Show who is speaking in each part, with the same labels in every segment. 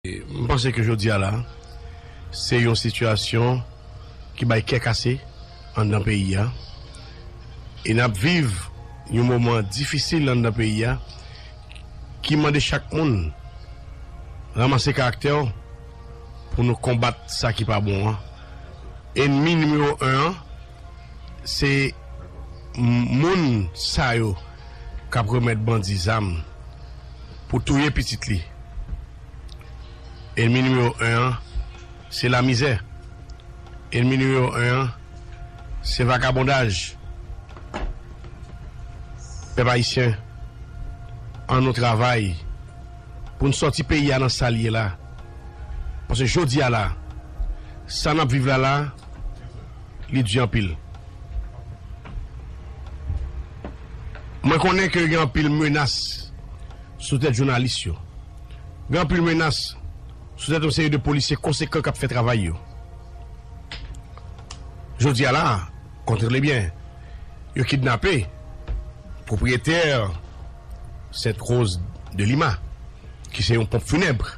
Speaker 1: M panse ke jodi a la, se yon sitiyasyon ki bay kè kase anndan peyi a. E n ap viv yon moman difisil anndan peyi a ki mande chak moun ranmase karaktè w pou nou konbat sa ki pa bon an. Enmi nimewo 1 an, se moun sa yo k ap remèt bandi zam. pou touye pitit li. Enmi nimewo 1 an se lamizè. Enmi nimewo 1 an se vakabondaj. Pèp Ayisyen an nou travay pou n sòti peyi a nan sa l ye la. Paske jodi a la sa n ap viv la la li di anpil. Mwen konnen ke gen anpil menas sou tèt jounalis yo. Gen anpil menas sou tèt yon seri de polisye konsekan k ap fè travay yo. Jodi a la, kontnle byen, yo kidnape pwopriyetè Sainte Rose de Lima, ki se yon ponp funèbre.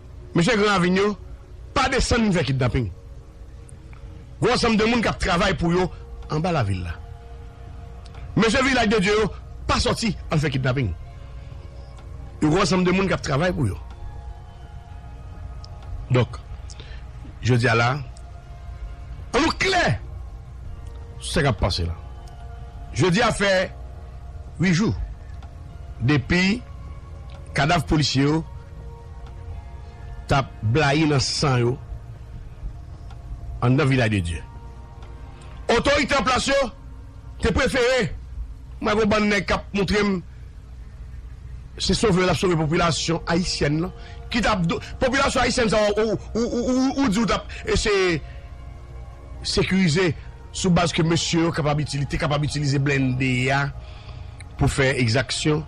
Speaker 1: Mesye gran ravin yo pa desann vin fè kidnaping. Gwo ansanm de moun k ap travay pou yo anba lavil la. Mesye Vilaj de Dye yo pa sòti al fè kidnaping. Yon gwo ansanm de moun k ap travay pou yo. Donk, jodi a la, an nou klè sou sa k ap pase la. Jodi a fè wi jou depi kadav polisye yo. tap blayi nan san yo anndan Vilaj de Dye. Otorite an plas yo te prefere mwen gon bann nèg kap moutrem se sove yo tap sove popilasyon ayisyèn lan ki tap do popilasyon ayisyèn sa yo ou di ou tap eseye sekirize sou baz ke mesye yo kapab itili te kapab itilize blende a pou fè egzaksyon.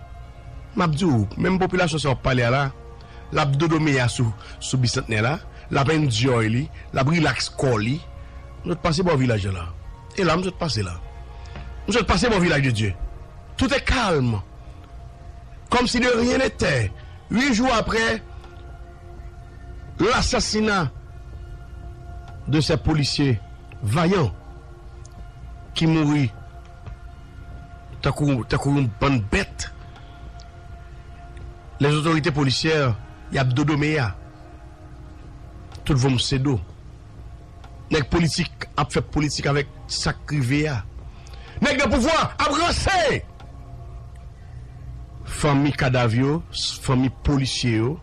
Speaker 1: Map di w, menm popilasyon sa wap pale a la, lap dodo meya sou sou bisantnè la, lap enjoy li, lap relax kò li. M sot pase bò vilaj la la. E la m sot pase la. M sot pase bò vilaj de Dye. Tout e kalm. Kòm si de ryen netè. 8 jou aprè lasasina de sè polisye vayan ki mouri Tankou tankou yon bann bèt les autorités policières yap dodo meya tout vòm se do nèg politik ap fè politik avèk sak rive ya nèg nan pouvwa ap ranse fanmi kadav yo fanmi polisye yo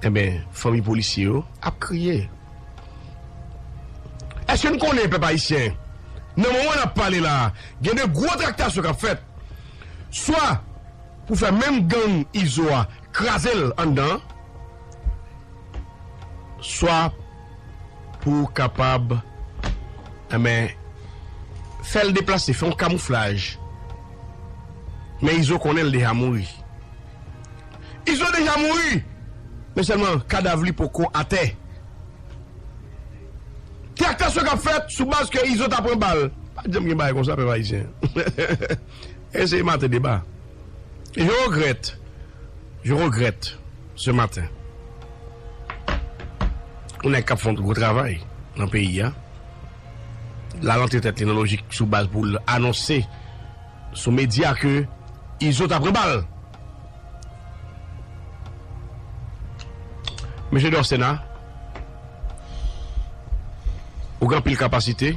Speaker 1: enben fanmi polisye yo ap kriye. Eske n konnen pèp ayisyen, nan moman n ap pale la a, gen de gwo traktasyon k ap fèt, swa pou fè menm gang Izo a kraze l anndan an, swa pou kapab enben fè l deplase, fè yon kamouflaj, men Izo konnen l deja mouri. Izo deja mouri men sèlman kadav li poko atè. Traktasyon kap fèt sou baz ke Izo ta pran bal. Pa t janm gen bagay konsa pèp ayisyen. Eseye maten deba. Je regrette, je regrette ce matin yon nèg kap font gwo travay nan peyi a lal antre tèt li nan lojik sou baz pou l anonse. Sou media ke izo ta pran bal. Mesye Dorcena ou gen anpil kapasite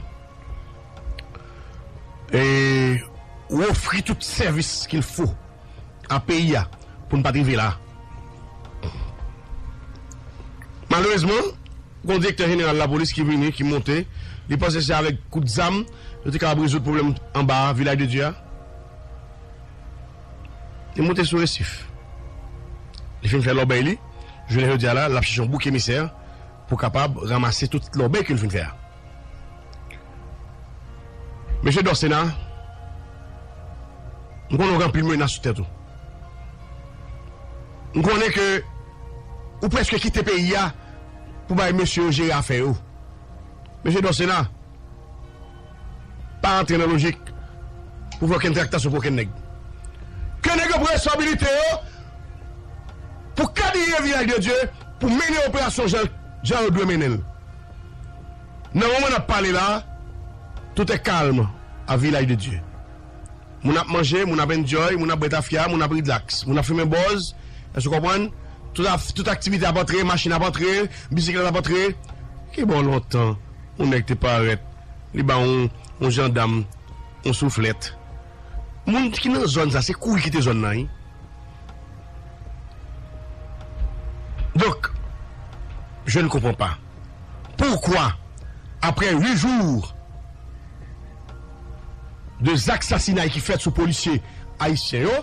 Speaker 1: e ou ofri tout sèvis kil fo a peyi a pou n pa t rive la. Malerezman. Gon direktè jeneral lapolis ki vini ki monte li panse se avèk kout zam yo te kapab rezoud pwoblèm anba a vilaj de Dye a li monte sou resif li fin fè lòbèy li jounen jodi a la lap chèche yon bouk emisè pou kapab ramase tout lòbèy ke li fin fè a mesye Dorcena m konnen ou gen anpil menas sou tèt ou m konnen ke ou prèske kite peyi a. pou bay mesye yo jere afè yo. Mesye Dorcé la pa antre nan lojik pou fè okenn traktasyon pou okenn nèg. Ke nèg yo pran responsabilite yo pou kabiye Vilaj de Dye pou mennen operasyon jan yo dwe mennen l. Nan moman n ap pale la, tout e kalm a Vilaj de Dye. Moun ap manje, moun ap enjoy, moun ap bwè tafya, moun ap rilaks, moun ap fimen bòz, èske w konprann? Tout af, tout aktivite ap antre, machin ap antre, bisiklèt ap antre. Ki bo lontan, yon nèg te parèt, li ba yon, yon jandam yon souflèt. Moun ki nan zòn sa, se kouri kite zòn nan, wi. Donk, je ne comprends pas. Pourquoi après 8 jours de zak sasinay ki fèt sou polisye ayisyen yo,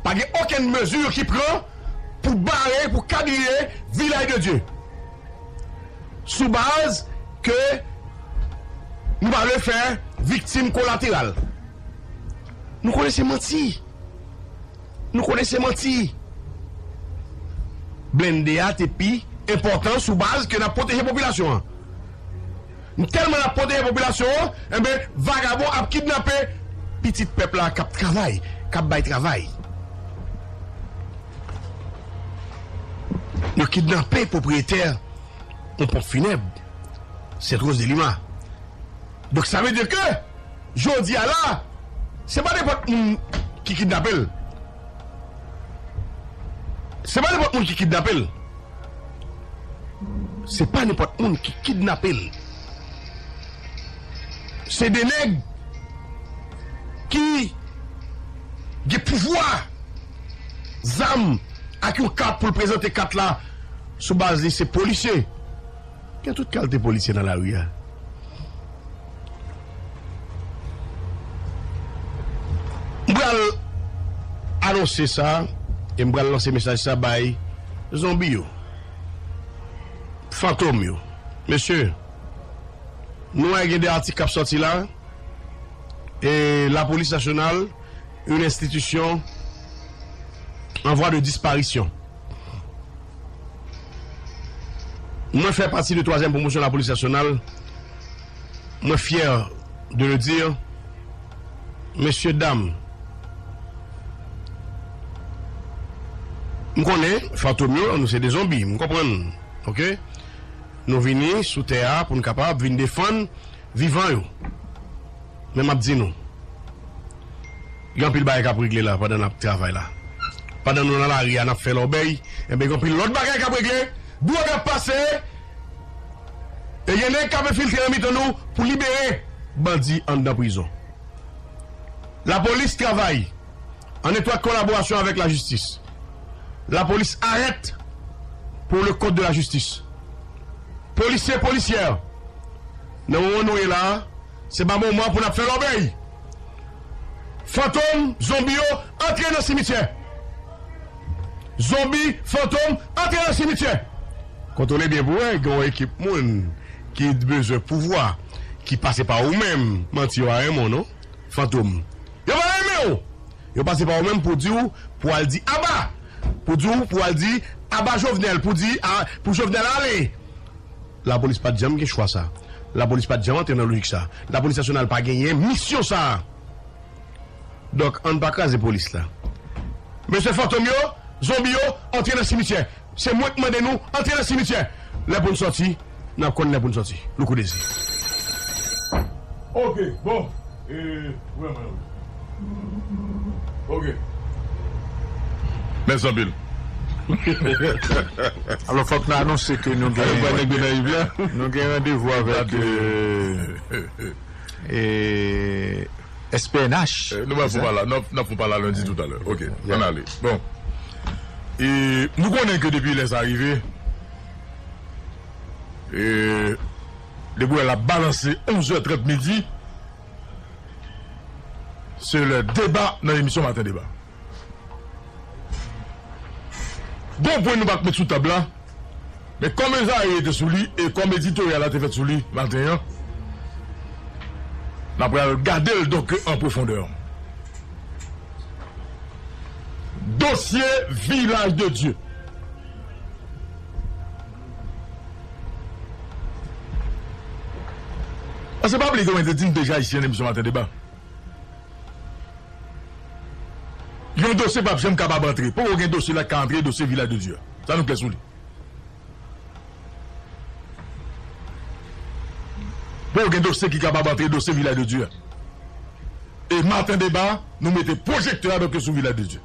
Speaker 1: pa gen okenn mezi ki pran pou bare, pou kadriye Vilaj de Dye? Sou baz ke nou pa vle fè viktim kolateral. Nou konnen se manti. Nou konnen se manti. Blende a te pi enpòtan sou baz ke nap pwoteje popilasyon an. M tèlman nap pwoteje popilasyon an, enben vagabon ap kidnape pitit pèp la kap travay, kap bay travay. Yo kidnape pwopriyetè yon ponp finèb, Sèt Roz de Lima. Donk sa vle di ke jodi a la se pa nenpòt moun ki kidnape l. Se pa nenpòt moun ki kidnape l. Se pa nenpòt moun ki kidnape l. Se de nèg ki gen pouvwa, zam ak yon kat pou l prezante kat la sou baz li se polisye. Gen tout kalte polisye nan lari a. M pral anonse sa e m pral lanse mesaj sa bay zonbi yo, fantom yo. Mesye, nou wè gen 2 atik k ap sòti la e lapolis nasyonal, yon enstitisyon an vwa de disparisyon. Mwen fè pati de twazyèm pwomosyon lapolis nasyonal, mwen fyè de le dir, mesye dam, m konnen fantom yo nou se de zonbi, m konprann nou ok, nou vini sou tè a pou n kapab vin defann vivan yo. Men map di nou. Gen anpil bagay kap regle la pandan nap travay la. Pandan nou nan lari a nap fè lòbèy enben gen anpil lòt bagay kap regle, dwòg ap pase e gen nèg kap enfiltre nan mitan nou pou libere bandi anndan prizon. Lapolis travay an etwat kolaborasyon avèk lajistis. Lapolis arèt pou le kont de lajistis. Polisye, polisyè nan moman nou ye la Se pa moman pou nap fè lòbèy. Fantom, zonbi yo antre nan simityè. Zonbi, fantom antre nan simityè. Kontwole byen pou wè gen yon ekip moun ki bezwen pouvwa ki pase pa ou menm. Manti yo pa renmen w non Fantom. Yo pa renmen w! Yo pase pa ou menm pou di w pou al di aba! Pou di w pou al di aba Jovenel pou di pou Jovenel ale! Lapolis pa t janm gen chwa sa a. Lapolis pa t janm antre nan lojik sa a. Lapolis nasyonal pa genyen misyon sa a. Donk, ann pa kraze polis la. Mesye fantom yo, zonbi yo, antre nan simityè. Se mwen k mande nou, antre nan simityè! Lè pou n sòti, n ap konn lè pou n sòti. Loukoudeze.
Speaker 2: Ok bon e wè mwen wi ok. Mèsi anpil.
Speaker 3: Alò fòk nou anonse ke nou gen nou gen randevou avèk SPNH. Nou pral fon pa la nou
Speaker 2: ap fon pa la lendi toutalè ok ann ale bon e nou konnen ke depi lè sa rive e. Depi wè lap balanse 11 zè 30 midi se lè deba nan emisyon maten deba. Gon pwen nou pat met sou tab la men kòm Ezayi rete sou li e kòm editoryal la te fèt sou li maten an na pral gade l donk an pwofondè. Dosye Vilaj de Dye. Pase pa bliye ke mwen te di nou deja Ayisyen renmen maten deba. Yon dosye pap janm kapab antre. Poko gen dosye la ki ka antre dosye Vilaj de Dye a. Sa nou klè sou li. Poko gen dosye ki kapab antre dosye Vilaj de Dye a. E maten deba nou mete pwojektè a doke sou Vilaj de Dye.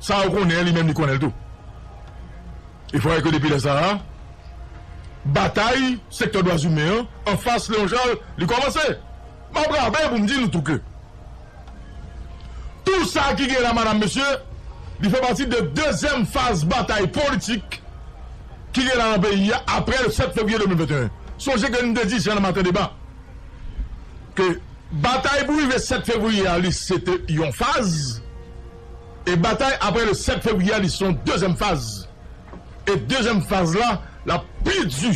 Speaker 2: Sa ou konnen an li menm li konnen l tou. E fò wè ke depi lè sa a, batay sektè dwazimen an anfas Leon Charles li kòmanse. M ap raple pou m di nou tou ke tou sa ki gen la madam mesye li fè pati de dezyèm faz batay politik ki gen la nan peyi a apre le 7 fevriye 2021. Sonje ke nou te di jan nan maten deba ke batay pou rive 7 fevriye a li se te yon faz e batay apre le 7 fevriye a li se yon dezyèm faz e dezyèm faz la l ap pi di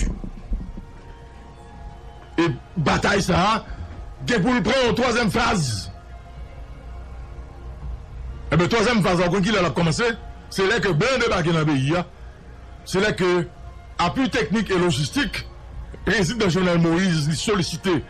Speaker 2: e batay sa a gen pou l pran yon twazyèm faz enben twazyèm faz la ou konn ki lè l ap kòmanse se lè ke blan debake nan peyi a se lè ke apui teknik e lojistik prezidan jovenel moïse li solisite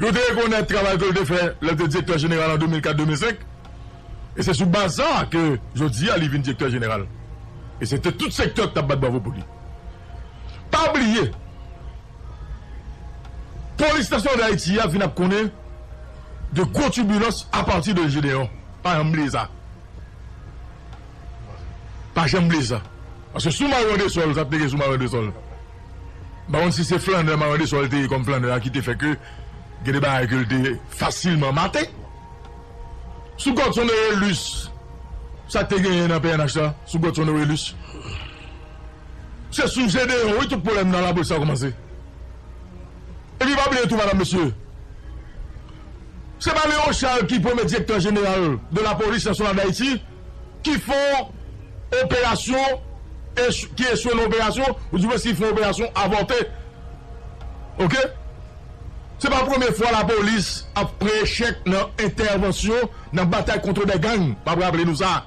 Speaker 2: Yo te rekonèt travay ke l te fè lè l te Direktè Jeneral an 2004, 2005, e se sou baz sa a ke jodi a li vin Direktè Jeneral. E se te tout sektè ki t ap bat bravo pou li. Pa bliye, Polis Nasyonal Dayiti a vin ap konnen de gwo tibilans apati de Jedeon. Pa janm bliye sa. Pa janm bliye sa. Paske sou Mario Andresol, sa te gen sou Mario Andresol. M pa konn si se flannè Marande Sòl te ye kòm flannè a ki te fè ke gen de bagay ke l te fasilman mate. Sou Godson Orélus, sa k te genyen nan pnh la sou Godson Orélus? Se sou Gédéon wi tout pwoblèm nan lapolis la kòmanse. Epi pa bliye tou madam mesye, se pa Léon Charles ki premye direktè jeneral de lapolis nasyonal Dayiti? Ki fè yon operasyon, ki echwe nan operasyon, ou di mwen si fè operasyon avòte. Ok. Se pa premye fwa lapolis ap fè echèk nan entèvansyon nan batay kontrebè gang. M ap raple nou sa.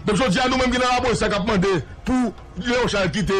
Speaker 2: Donk jodi a nou menm ki nan lapolis la k ap mande pou Leon Charles kite.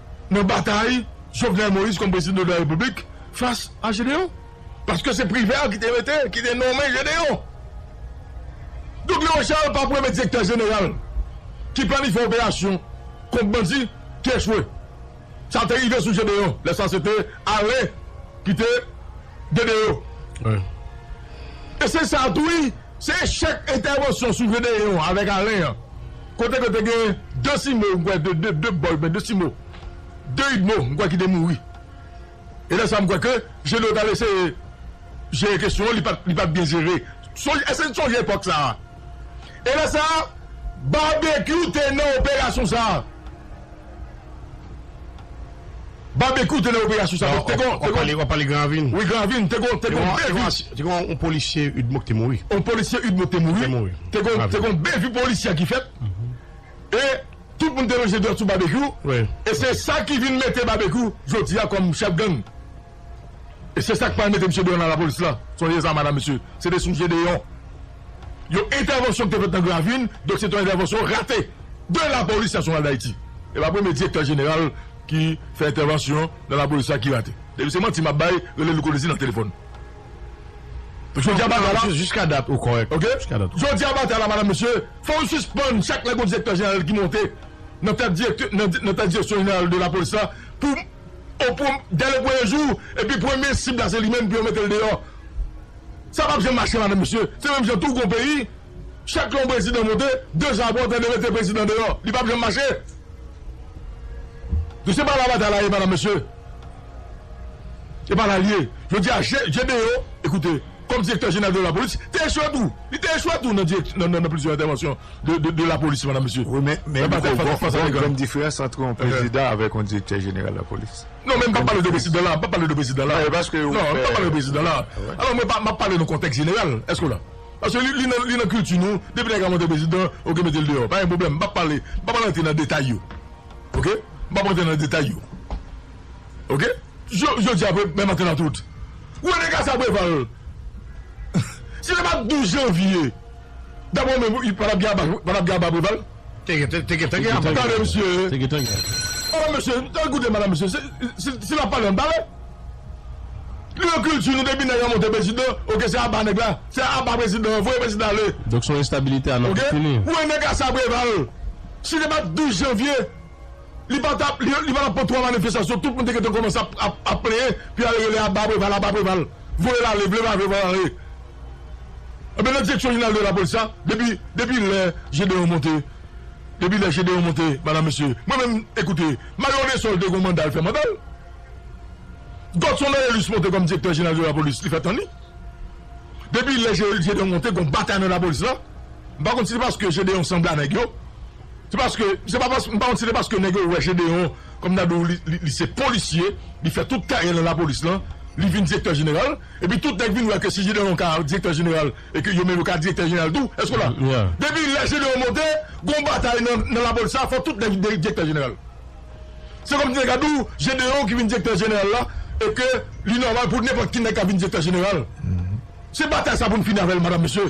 Speaker 2: nan batay Jovenel Moïse kòm prezidan de la Repiblik fas a Gedeon. Paske se Privert ki te mete, ki te nonmen Gedeon. Donk Leon Charles pa premye direktè jeneral ki planifye operasyon kont bandi ki echwe. Sa te rive sou Gedeon. Lè sa se te Alain ki te Gedeon. E se sa tou wi, se echèk entèvansyon sou Gedeon avèk Alain an. Kote ke te gen de simo m kwè de de de bòl men de simo de idmo m kwè ki te mouri e lè sa m kwè ke Jedo t al eseye jere kesyon an li pa li pat byen jere sonje èske n sonje epòk sa e lè sa Babekyou te nan operasyon sa. Babekyou te nan operasyon sa tou. Wap pale gran
Speaker 1: ravin. Wi gran ravin te gon
Speaker 2: bgy. Te gon yon
Speaker 1: polisye udmo ki te mouri. Yon polisye udmo ki te
Speaker 2: mouri. Te gon bgy polisye ki fèt. E tout moun te lonje dwèt sou babekyou. E se sa ki vin mete babekyou jodia kom chèf gang. E se sak pral mete misye deyò nan lapolis lan. Sonje sa madam mesye. Se te sou je deyò. Yon entèvansyon ki te fèt nan Gravin, donk se te yon entèvansyon rate de lapolis nasyonal dayiti. E pa premye direktè jeneral ki fè entèvansyon nan lapolis la ki rate. Depi se manti map bay, rele Louko Désir nan telefòn. Jodi a batay
Speaker 1: la. Jiska dat ou kòrèk. Ok. Jodi a
Speaker 2: batay la madam mesye, fò nou sispann chak lè gen yon direktè jeneral ki monte nan tèt direksyon jeneral de lapolis la pou. O prom dè le premye jou epi premye sib la se li menm epi yo mete l deyò sa pap janm mache madan mesye se menm jan tou gon peyi chak lè yon prezidan monte de jou apre w tande mete prezidan deyò li pap janm mache nou se pa la batay la ye madan mesye se pa la l ye jodi a je de yo ekoute. Kòm Direktè Jeneral de Lapolis, te echwe tou. Li te echwe tou nan plizyè entèvansyon de lapolis, Madam Mesye. Wi, men Miko,
Speaker 3: gon grenn diferans antre yon Prezidan avèk yon Direktè Jeneral Lapolis. Non, men m pa pale de Prezidan
Speaker 2: la. M pa pale de Prezidan la. Non, paske ou fè. Non, m pa pale de
Speaker 3: Prezidan la.
Speaker 2: Alò, mwen pa, m ap pale nan kontèks jeneral. Èske w la? Paske li, li nan, li nan kilti nou, depi nèg la monte Prezidan, oke, mete l deyò. Pa gen pwoblèm. M pa pale, m pa pral antre nan detay yo. Oke? M pa pral antre nan detay yo. ok jodi a menm maten nan tout ou wè nèg a sa preval si se pat 12 janvier daprè ou menm patap gen aba patap gen aba preval te gen te gen aba preval tande mesye te gen te gen oh mesye al koute madam mesye si lap pale an pale nou nan kilti nou depi nèg la monte prezidan ok se aba nèg la se aba prezidan voye prezidan ale ok
Speaker 1: ou wè nèg a sa preval
Speaker 2: si se pat 12 janvier. Li pa ta li pa ta pran 3 manifestasyon tout moun te gentan kòmanse ap ap plenyen pou y'al rele aba Preval aba Preval voye l'ale vle pa vle voye l'ale ebyen nan direksyon jeneral de lapolis la depi depi lè Gedeon monte depi lè Gedeon monte madam mesye mwen menm ekoute Mario Desol te gon manda li fè mandal Godson Noëlus monte kòm direktè jeneral de lapolis li fè tan li depi lè Gedeon monte gon batay nan lapolis la m'pa konn si se paske Gedeon sanble a nèg yo. Se paske, se pa paske, m pa konn si se paske nèg yo wè Gedeon kòm nan do li se polisye, li fè tout karyè l nan lapolis lan, li vin direktè jeneral, epi tout nèg vin wè ke si Gedeon ka direktè jeneral e ke yo menm yo ka direktè jeneral tou, èske w la? Depi lè Gedeon monte, gon batay nan lapolis la, fò tout nèg vin direktè jeneral. Se kòmsi nèg ap di w Gedeon ki vin direktè jeneral la e ke li nòmal pou nenpòt ki nèg ka vin direktè jeneral. Se batay sa pou n fini avè l, madam, mesye.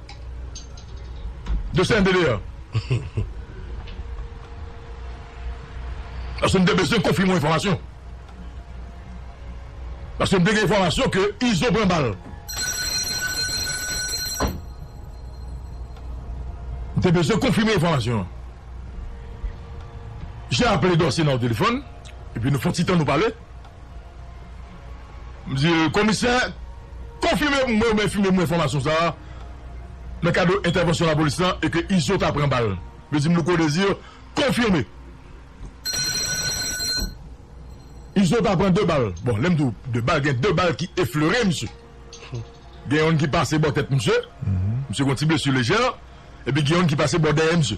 Speaker 2: De se ende deyo. Paske m te bezwen konfime yon enfòmasyon. Paske m te gen enfòmasyon ke Izo pran bal. M te bezwen konfime enfòmasyon an. J'ai appelé Dorcéna o telefòn, epi nou fon ti tan nou pale. Msye Komisè, konfime pou mwen oubyen fime mwen enfòmasyon sa a nan kado entèvansyon lapolis la e ke Izo ta pran bal. Msye Jim Louko Desir, konfime. Izo ta pran 2 bal. Bon, lè m di w 2 bal, gen 2 bal ki eflere msye. Gen youn ki pase bò tèt msye, msye gen yon ti blesu lejè, epi gen youn ki pase bò dèyè msye.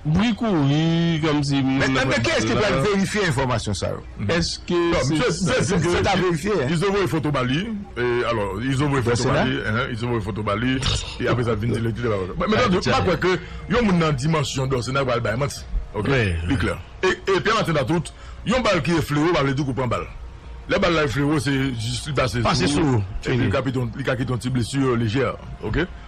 Speaker 3: Bri kouri kòmsi moun nan pral bal la. Men kiyès ki pral
Speaker 4: verifye enfòmasyon sa yo? Èske
Speaker 3: se sa ki
Speaker 4: verifye? Izo voye foto ba li,
Speaker 2: alò Izo voye foto ba li, Izo voye foto ba li, e apre sa vin di li pa kontan. Men m pa kwè ke yon moun nan dimansyon Dorcena pral bay manti ok, li klè. E Pierre Martin a tout, yon bal ki eflere ou pa vle di ke ou pran bal. Lè bal la eflere ou se jis li pase sou ou, epi li ka kite yon ti blessure lejè ok.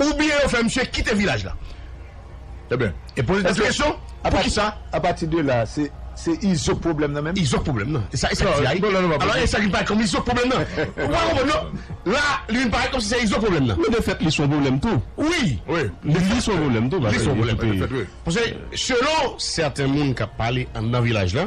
Speaker 1: oubyen yo fè misye kite vilaj la. Ebyen,
Speaker 2: e poze tèt ou kesyon,
Speaker 1: poukisa? A pati de la, se
Speaker 4: se Izo k pwoblèm nan menm? Izo k pwoblèm nan. E sa e
Speaker 1: sa k di a wi. Alò e sa ki parèt kòm Izo k pwoblèm nan. Ou pa konprann non. La, li vin parèt kòmsi se Izo k pwoblèm nan. Men de fèt li s on pwoblèm tou.
Speaker 3: Wi.
Speaker 1: Li s on
Speaker 3: pwoblèm tou paske li kite.
Speaker 1: Pase selon sèten moun k ap pale anndan vilaj la.